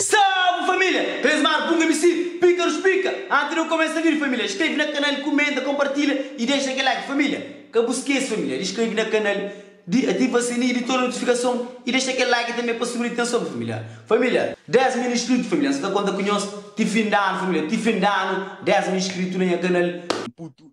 Salve família! Resmar punga misi píkarus pika anti de kumesa vídeo família Inskreve na kanal kumenta konpartilha i dexa kel like família Ka bu skese família di skreve na kanal di ativa sininhu di toda notifikason i dexa kel like tanbe pa subi na itenson família Família 10 mil inskritu família N sa ta konta ku nhos ti fin di anu família Ti fin di anu 10 mil inskritu na nha kanal putu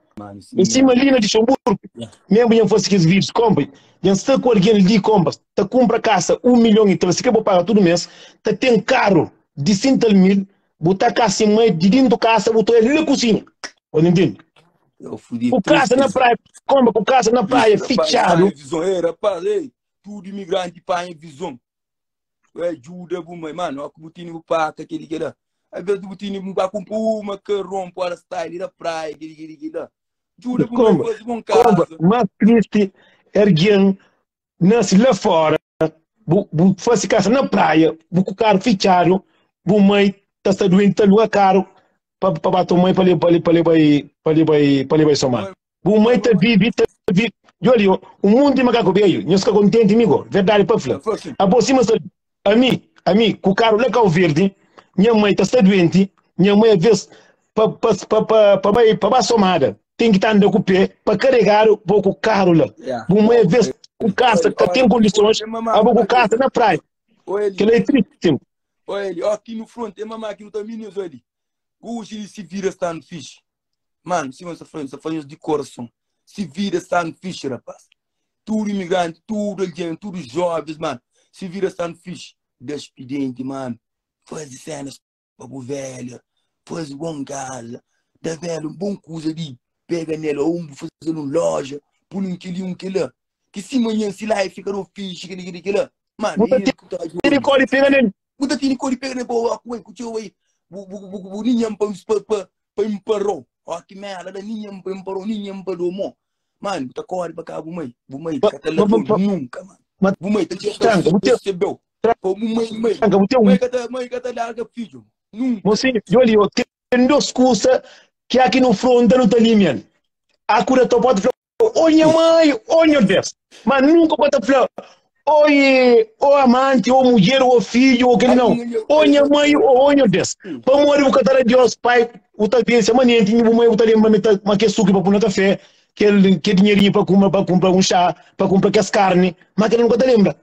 Em cima lina de seu burco, mesmo bem fosse que vídeos compre, já está com alguém ali compra, tá compra casa um milhão e tal, se quer pagar todo mês, tá tem carro de cintal mil, botar casa em mãe de dentro casa, botar ele na cozinha, olha entende? O casa na praia, compra com casa na praia, fechado. Visão, era parei, tudo imigrante para em visão. Ué, djuda bu mai. Mano, ó ku bu tini bu paka, kedi keda. Ai bes bu tini bu paka un pa uma, karon, pora style da praia, kedi kedi keda. Djuda bu mai fazi bon Komba, kaza. mas tristi é argen nase la fora, bu bu fase kasa na praia, bu ku karu fitxadu, bu mai ta sta duenti, ta aluga karu pa pa ba to mai pa le pa le pa le bai pa le bai pa le bai so manu. Bu mai ta vive, ta vive. Joli, ó, o mundo de macaco velho, nhos ka contente mi go, verdade pa fla. Abo sima sa, ami, ami, ku karu la Kau Verde, nha mai ta sta duente, nha mai aves pa, pa, pa, pa, pa bai, pa ba somada, tem ki ta anda ku pé pa karegadu bo ku karu la. Bu mai aves ku kasa ka tem kondisons, abo ku kasa na praia. Kela e triste tem. Ó, ele, ó, ki nu fronte, é mamá ki nu ta mini, nhos odi. Ku uxi di si vida sta nu fixe. Mano, sima sa fla, sa fla nhos di korason. Si vida sta na fixe, rapaz. Tudu imigranti, tudu algen, tudu joves, mano, si vida sta na fixe, da xpedienti, mano. Fazi senas pa bu velha, fazi bon kaza, da velha un bon kuza di pega nel, ô bu faze-l un loja, pul un keli, un kela. Ki si manhan, si la e fika no fixe, keli, keli, kela. Mano, Bu ta e nhos ki ta odja. Tene kóde pega nel. Bu ta tini kori pega ne pa oku uai ku txeu ai bu bu bu bu ni nhan pa pa pa pa imparou ó ki merda da ni nhan pa imparou ni nhan pa do mó mano bu ta kori pa ka bu mai bu mai ka ta levou nunka mano bu mai ta txeu ta Tranca, bu te- resebeu pa bu mai mai Tranca, bu tem um- mai ka ta mai ka ta larga fidju nunka Mosinho, yo li, yo ten dos kusa ki a ki nu fronta nu ta limian. Akura ta pode fla Ô nha mãe, ô nha Deus. Mas nunca pa ta fla, ô ô amante, ô mulher, ô filho, ô aquele não. Ô nha mãe, ô ô nha Deus. Pa mori bu ka ta da Deus pai, bu ta bem semanente, bu mãe bu ta lembra me ta ma que suco pa pôr na café, que que dinheirinho pa compra pa compra um chá, pa compra que carne, mas aquele nunca ta lembra.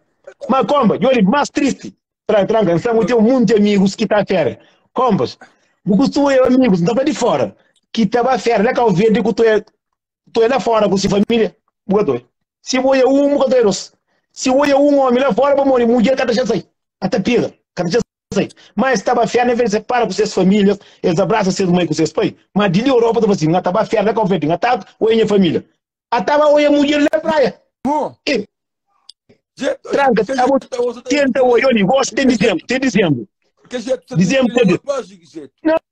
Mas compa, eu digo mais triste. Tra tranca, então eu tenho muitos amigos que tá férias. Compas, bu costumo eu amigos, não tá de fora. Que tava férias, lá cá o verde que tu é Tu é lá fora ku si família, bu ka ta oi. Si bu oi é un, bu ka ta oi dos. Si bu oi é un omi lá fora, pa modi mudjer ka ta xe sai, ka ta pega, ka ta xe sai. Má es ta ba fia, n'é verdadi, separa ku ses família, es abrasa ses mai ku ses pai. Má di li Europa ta fla sin, N ta ba fia la Cabo Verde, N ta oi nha família. A ta ba oi e mudjer la praia. E tranka, ta bo tenta oi, oi li, gosi ten dizembru, ten dizembru. Dizembru ta ben.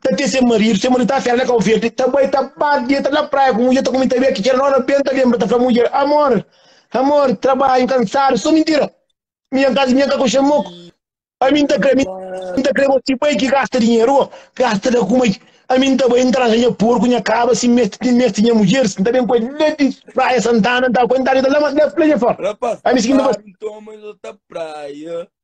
ta te se marido se marido ta afera na cabo verde ta bai ta bate dia ta na praia com mulher ta comenta bem aqui não na benta lembra ta fala mulher amor amor trabalho cansado só mentira minha casa minha caco chamoco a mim ta creme mim ta creme se bai que gasta dinheiro gasta da como a mim ta bai entrar minha porco minha caba se mete de mete minha mulher se também com ele praia santana tá com ele tá lá mas na praia fora a mim se que não vai então mas outra praia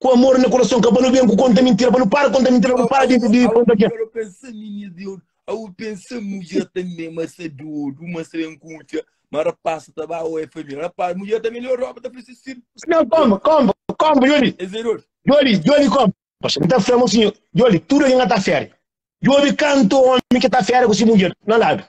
ku amor na kurason ka pa nu ben ku konta mintira pa nu para konta mintira pa nu para di di konta ke Agora pensa minha de ouro Au pensa mulher também mas é de ouro Mas também com o tia Mas rapaz tá bom ou é família Rapaz mulher também melhor roupa tá precisa sim não komba komba komba joli É zero joli joli komba Poxa, não tá fermo assim, joli tudo que não tá fermo Joli canto homem que tá fermo com si mulher, não dá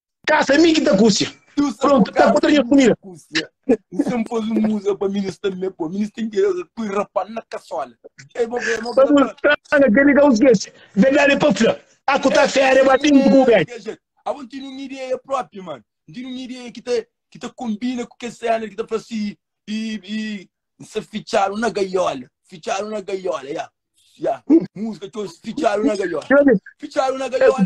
Kasa, mi ki ta kusia. Prontu, ta kutra nha kumida. N sen pôs un muza pa mi, nus ta me pô. Mi ten ki pui rapan na kasola. Pa bu stranga, kel li ka bu skese. Verdadi pa fla, a ku ta fera é ba bin ku bu bege. Abo N tene un ideia propi, man. N tene un ideia ki ta konbina ku kel sénari ki ta fla si N sa fitxadu na gaiola. Fitxadu na gaiola, ya. Ya, muzika txeu, fitxadu na gaiola. Fitxadu na gaiola.